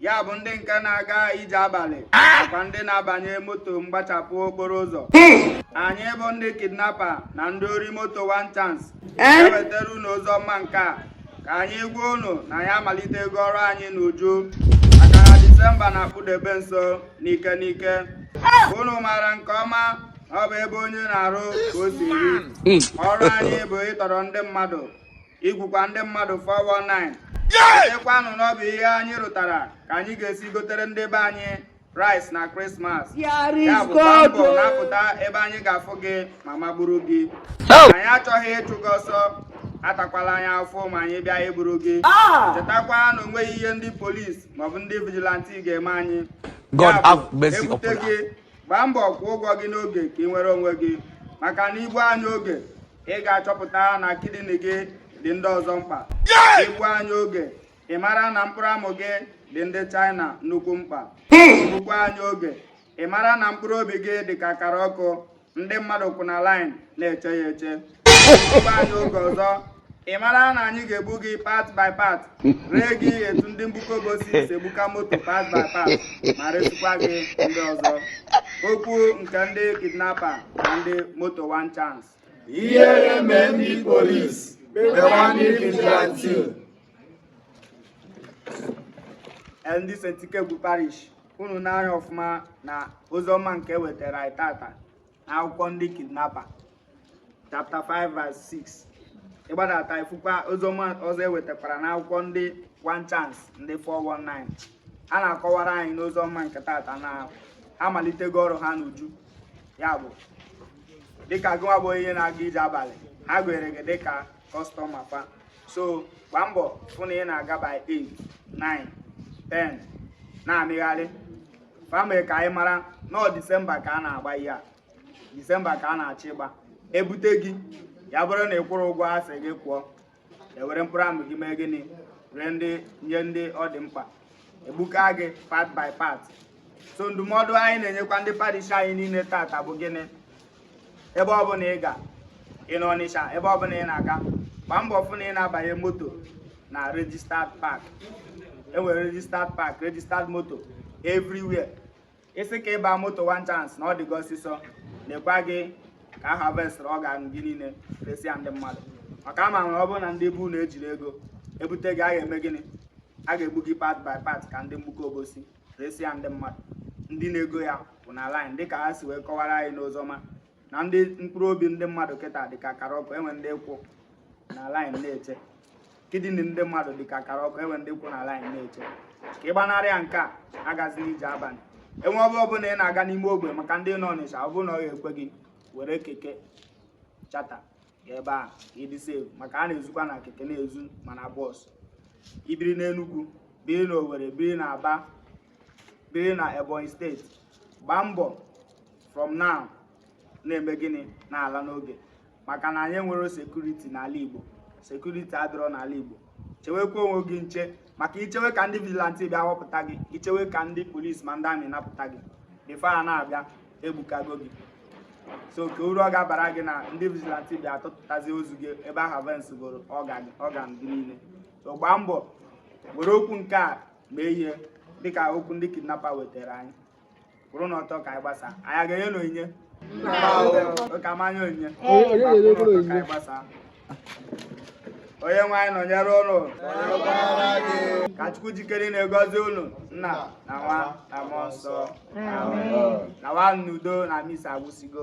ya bụ ndị nke na-aga ije abalị nakwa ndị na-abanye moto mgbachapụ okporo ụzọ anyị bụ ndị kidnapa na ndị ori moto one chance ewetara unu ozi ọma nke a ka anyị gwa unu na anyị amalitego ọrụ anyị n'uju maka na disemba na-akpụdebe nso n'ike n'ike unu maara nke ọma na ọ bụ ebe onye na-arụ ka o si eri ọrụ anyị bụ ịtọrọ ndị mmadụ igwukwa ndị mmadụ 419 ekwanụ na ọ bụ ihe anyị rụtara ka anyị ga-esi gotere ndị be anyị rice na krismas ya bụ gbaa mbọ na-apụta ebe anyị ga-afụ gị ma magburu gị anyị achọghị ịchụ gị ọsọ atakwala anyị afụfụ ma anyị bịa iburu gị ah! chetakwa na onweghị ihe ndị polisi maọbụ ndị vigilanti ga-eme anyị God have mercy upon us. gbaa mbọ kwụọ ụgwọ gị n'oge ka ị nwere onwe gị maka na i gbuo anyị oge ị ga-achọpụta na kidney gị dị ndị ọzọ mkpa i gbuo anyị oge ị mara na mkpụrụ amụ gị dị ndị China nnukwu mkpa i gbukwaa anyị oge ị mara na mkpụrụ obi gị dị ka akara ọkụ ndị mmadụ kwụ na line na-eche ya eche oge ọzọ ị mara na anyị ga-egbu gị part by part ree gị etu ndị Mgbuka Obosi si egbuka moto part by part ma resịkwa gị ndị ọzọ okwu nke ndị kidnapa na ndị moto one chance ihere mee ndị polis mewa ndị vigilante ndị Saint Ikegwu parish unu na-anụ ya ọfụma na ozi ọma nke e wetara anyị tata akwụkwọ ndị kidnapa chapter 5 verse 6 ịgbadata ifukwa oziọma ọzọ ewetakwara n'akwụkwọ ndị one chance ndị 419 ha na-akọwara anyị n'oziọma nke tata na ha malitego ọrụ ha n'uju ya bụ dịka gụnwa bụ onye na-aga ije abalị ha gụnyere gị dịka kọstọma fa so gbaa mbọ fụ na ị na-aga by 8 9 10 na-amịgharị famịlị ka anyị mara na ọ disemba ka a na-agba ihe a disemba ka a na-achọ ịgba ebute gị ya bụrụ na ị kwụrụ ụgwọ a sị gị kwụọ ewere mkpụrụ amụ gị mee gịnị ree ndị nye ndị ọ dị mkpa egbuka gị part by part so ndụmọdụ anyị na-enyekwa ndị parish anyị niile tata bụ gịnị ebe ọ bụla ị ga ị nọ Ọnịcha ebe ọ bụla ị na-aga gbaa mbọ fụ na ị na-abanye moto na registered park enwere registered park registered moto everywhere ị sị ka ị baa moto one chance na ọ dị gị ọsịsọ lekwa gị ka a harvest organ gị niile resịa ndị mmadụ maka ama nwere ọ bụrụ na ndị be unu ejirọ ego ebute gị a ga-eme gịnị a ga-egbu gị part by part ka ndị Mgbuka Obosi resị ya ndị mmadụ ndị na-ego ya kwụ na line dịka ha si wee kọwara anyị n'ozọma na ndị mkpụrụ obi ndị mmadụ kịta dịka akara ọkụ enwe ndị kwụ na line na-eche kidney ndị mmadụ dịka akara ọkụ enwe ndị kwụ na line na-eche ka ị gbanarị ya nke a agazila ije abalị enwe ebe ọbụla ị na-aga n'ime ogbe maka ndị nọ Ọnịcha ọ bụrụ na ọ ga-ekwe gị were keke charter ebe a ka ị dị safe maka a na-ezukwa na keke na-ezu ma na bus i biri n'Enugwu biri na Owerri biri na Aba biri na Ebonyi State gbaa mbọ from now na-eme gịnị na-ala n'oge maka na anyị enwerọ security n'ala Igbo security adịrọ n'ala Igbo chewekwa onwe gị nche maka i chewe ka ndị vigilante bịa wapụta gị i chewe ka ndị police ma ndị army napụta gị before ha na-abịa e gbuchago gị so kee uru ọ ga-abara gị na ndị vigilante bịa tụtụtazi ozu gị ebe a harvestịgoro organ gị niile so gbaa mbọ were okwu nke a mee ihe dịka okwu ndị kidnapper wetara anyị kwụrụnụ ọtọ ka anyị gbasa anyị ga-enye na onyinye oke amanya onyinye gbasa onye nwe anyị nọnyere ụnụ ka chukwu ji ike niile gọzie ụnụ nna na nwa na mmụọ nsọ nawa n'udo na misa agwụsịgo